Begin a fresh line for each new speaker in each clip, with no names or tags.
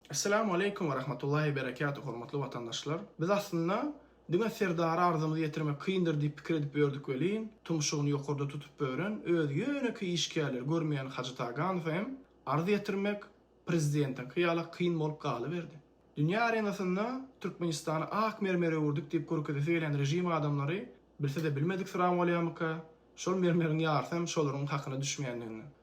Esselamu Aleýkum we Rahmatullahi we Berekatuh Hormatly Watandaşlar! Biz aslynda diňe Serdara arzamyzy ýetirmek kyndyr diýip pikir edip ýördük welin, tumşugyny ýokarda tutup bören öz ýönekeý işgärleri görmeýän Hajy Taganowa hem arz ýetirmek Prezidentiňki ýala kyn bolup galyberdi. Dünýä arenasynda Türkmenistany ak mermer öwürdik diýip görkezesi gelýän režim adamlary bilse-de bilmediksyrama bolýamyka, şol mermeriň ýarysy hem şolaryň hakyna düşmeýändigini.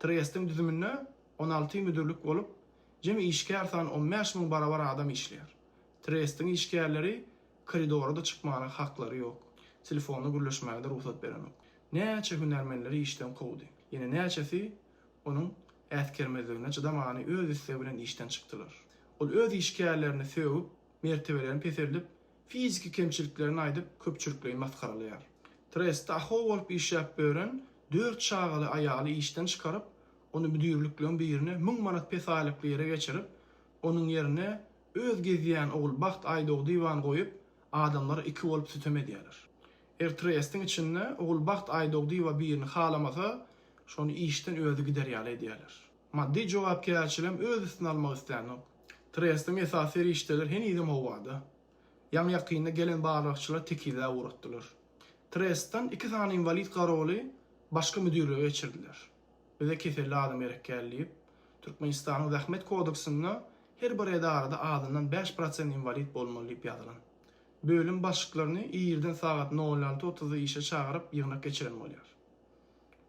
Trestiň düzüminde on alty müdirlik bolup, jemi işgär sany on bäş müň barabar adam işleýär. Trestiň işgärleri koridora-da çykmaga haklary ýok, telefonda gürleşmäge-de rugsat berenok. Näçe hünärmenleri işden kowdy. Ýene näçesi onuň äsgermezligine çydamany öz islegi bilen işden çykdylar. Ol öz işgärlerini sögüp, mertebelerini peseldip, fiziki kemçiliklerini aýdyp köpçülikleýin masgaralaýar. Trestde aho bolup işläp bören dört çagaly aýaly işden çykaryp, ony müdirlikleň birine müň manat pes aýlykly ýere geçirip, onuň ýerine öz gezýän ogul Bagt Aýdogdyýewany goýup, adamlar iki bolup sütem edýärler. Eger trestiň içinde ogul Bagt Aýdogdyýewa birini halamasa, şony işden özi gider ýaly edýärler. Maddy jogapkärçiligem öz üstüne almak islänok. Trestiň esasy serişdeleri henizem howada. Ýaňy-ýakynda gelen barlagçylar tekizläp ugratdylar. Trestden iki sany inwalid garoly başga müdirlige geçirdiler. Bize keselli adam gerek däl diýip, Türkmenistanyň Zähmet kodeksinde her bir edarada azyndan bäş prosent inwalid bolmaly diýip ýazylan. Bölüm başlyklaryny irden sagat nol alty otuzda işe çagyryp ýygnak geçiren bolýar.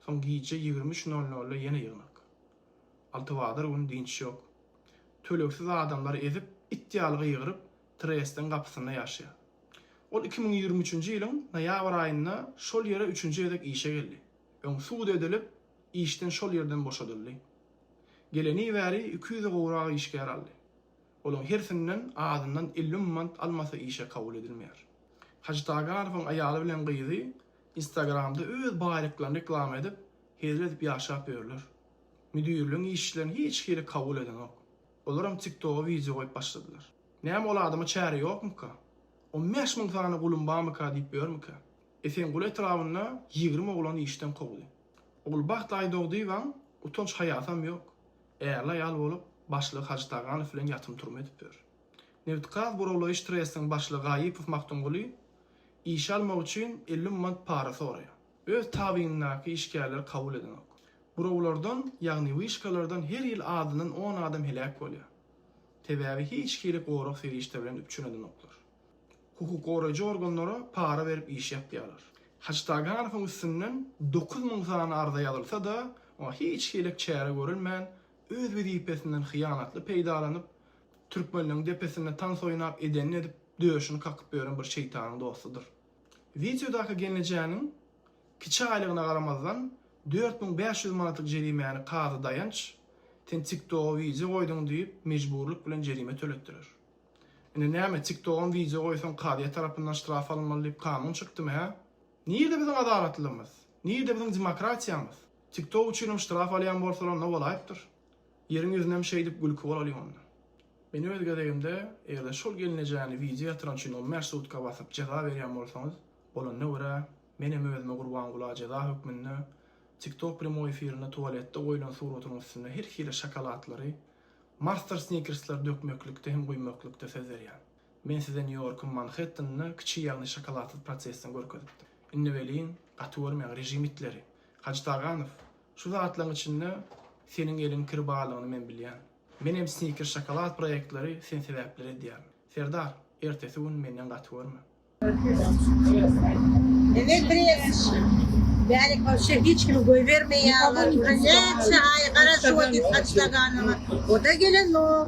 Soň gije ýigrimi üç nol nolda ýene ýygnak. Altybazar güni dynç ýok. Tölegsiz adamlary ezip, it ýaly gygyryp, Trestiň gapysynda ýaşaýar. Ol iki müň ýigrimi üçünji ýylyň noýabr aýynda şol ýere üçünji gezek işe geldi. Öň sud edilip, işden şol ýerden boşadyldy. Geleni bäri iki ýüze gowrak işgär aldy. Olaň hersinden azyndan elli müň mant almasa işe kabul edilmeýär. Hajytaganowyň aýaly bilen gyzy Instagramda öz baýlyklaryny reklama edip, hezil edip ýaşap ýörler. Müdirligiň işçilerini hiç hili kabul edenok. Olaram TikToga wideo goýup başladylar. Näme ol adama çäre ýokmyka? On bäş müň sany gulum barmyka diýip ýörmükä? Esenguly etrabynda ýigrimi oglany işden kowdy. Ogulbagt Aýdogdyýewaň utanç-haýasam ýok. Ärli-aýal bolup, başlygy Hajy Taganow bilen ýatym-turma edip ýör. Nebitgaz burawlaýyş trestiň başlygy Gaýypow Magtymguly Işe almak üçin elli mant para soraýar. Öz tabynyndaky işgärleri kabul edenok. Burawlardan, ýagny wyşkalardan her ýyl azyndan on adam heläk bolýar. Sebäbi hiç hili gorag serişde bilen üpjün edenoklar. Hukuk goraýjy organlara para berip iş ýapýarlar. Haçtaganowyň üstünden dokuz müň sany arza ýazylsa-da, oňa hiç hili çäre görülmän, öz wezipesinden hyýanatly peýdalanyp, Türkmenleň depesinde tans oýnap edenini edip döşüni kakyp ýören bir şeýtanyň dostudyr. Wideodaky gelnejäniň kiçi aýlygyna garamazdan dört müň bäş ýüz manatlyk jerimäni kazy Daýanç sen tiktoga wideo goýduň diýip mejburlyk bilen jerime töletdirer. Indi näme tiktogam wideo goýsaň kazyýet tarapyndan ştraf alynmaly diýip kanun çykdymy hä? Nirde biziň adalatlygymyz? Nirde biziň demokratiýamyz? Tiktok üçinem ştraf alýan bolsalar onda bolaýypdyr. Ýeriň ýüzünem şeýdip gülki bolalyň onda. Men öz gezegimde eger-de şol gelnejäni wideo ýatyran üçin on bäş sutka basyp jeza berýän bolsaňyz, bolanyna görä, menem özüme Gurbangula jeza hökmünde TikTok premoi efirinde tuwaletde goýlan suratynyň üstüne her hili şokolatlary, Master Snickers-leri dökmeklikde hem guýmaklykda söz berýän. Men size Nýu-Ýorkyň Manhettanyny kiçi ýagny şokoladsyz prosesden görkezipdim. Indi welin, gaty görmäň, režim itleri! Hajyt Aganow! Şu zatlaryň içinde seniň eliň kir barlygyny men bilýän. Menem sniker şokolad proýektleri sen sebäpli red edýärin. Serdar, ertesi gün menden gaty görme. Evel biraz
bärik wapşe hiç kimi goýbermeýär olar uje näçe aý garaşyp otyrys açlaganyma oda gelenok.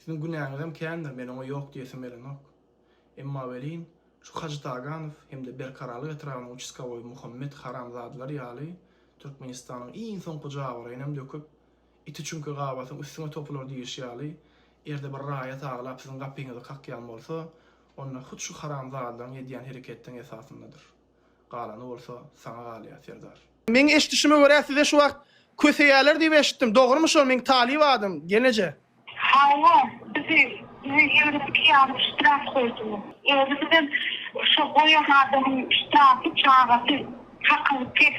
Siziň günäňizem kändir, men oňa ýok diýesim gelenok. Emma welin, şu Hajy Taganow hem-de Berkaralyk etrabynyň uçaskowoýy Muhammet haramzadalar ýaly Türkmenistanyň iň soňky jabyrynyňam döküp, Iti çüňke gabasyň üstüňe topular diýlişi ýaly, erde bir raýat aglap siziň gapyňyzy kakýan bolsa, onda hut şu haramzadalaryň edýän hereketiniň esasyndadyr. Galany bolsa saňa galýar serdar. Meň eşdişime görä size şu wagt köseýäler diýip eşitdim dogrymy şo meň talyp adym geneje. Hawa
bizi size ýigrimi iki adam ştraf goýdular. Özümizem şo goýan adamyň ştrafy çagasy hakyny pes.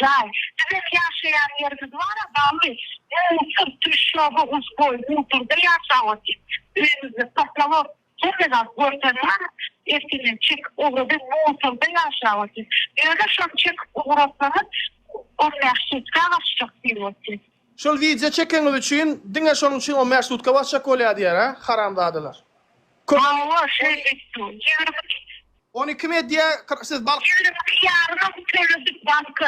Jaý. Bizem ýaşaýan ýerimiz bar-a, bagly. Öýüň syrty, şoby, uzboý, gudurda ýaşap otyr. Öýümizde poslawok. Hemme zat görsen bar. Ertirinden çekip ugradyp, musorda ýaşap otyr. Ýöne şony çekip ugratsaňyz, ol mähşetkä gaçjak diýip otyr. Şol wideo
çekeňiz üçin diňe şonuň üçin o mersudka basjak bolýa diýer hä haramzadalar. Köp. Hawa
şeýle
etdim. Ýigrimi iki. Ony kim edýä siz bal. Ýigrimi iki ýarymyň
töledik banka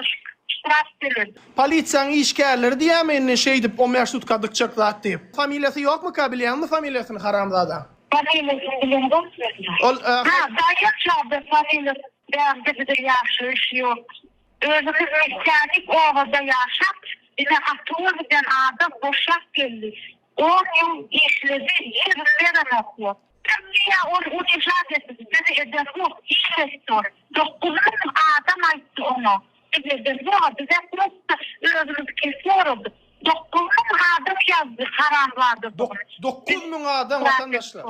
ştraf töledik. Polisiýaň işgärleri
diýýämi indi şeýdip o mersudka dykjak zat diýip. Familiýasy ýokmyka bilýäňmi familiýasyny haramzadaň. Familiýasyny bilemok men.
Ol. Daýanç aga
familiýasy
bärde bize ýagşy iş ýok. Özümiz islädik obada ýaşap, ine Atuwa giden adam boşap geldi. On ýyl işledi, ýigrimi berenok ýok. Türkiýe ol unijat edip, bizi ederok, iş etdi ol. Dokuz müň adam aýtdy oňa, biz ederzog-a, bizem prosta özümiz kesip oradyk. Dokuz müň adam ýazdy haramzadadygyny. Dokuz müň
adam, watandaşlar.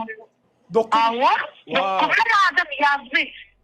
Hawa,
dokuz müň adam ýazdy.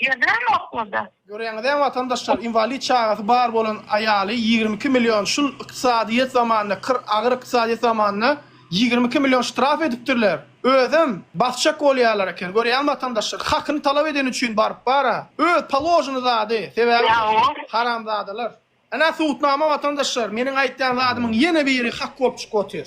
Ýördüňizmi okulda? Göreňizä watandaşlar
inwalid çagasy bar bolan aýaly ýigrimi iki million şul ykdysadyýet zamanynda kir agyr ykdysadyýet zamanynda ýigrimi iki million ştraf edipdirler özem basjak bolýarlar eken görýäňmi watandaşlar hakyny talap edeni üçin baryp bara öz položyny zady sebäbi haramzadalar ene subutnama watandaşlar meniň aýtýan zadymyň ýene biri hak bolup çykyp otyr.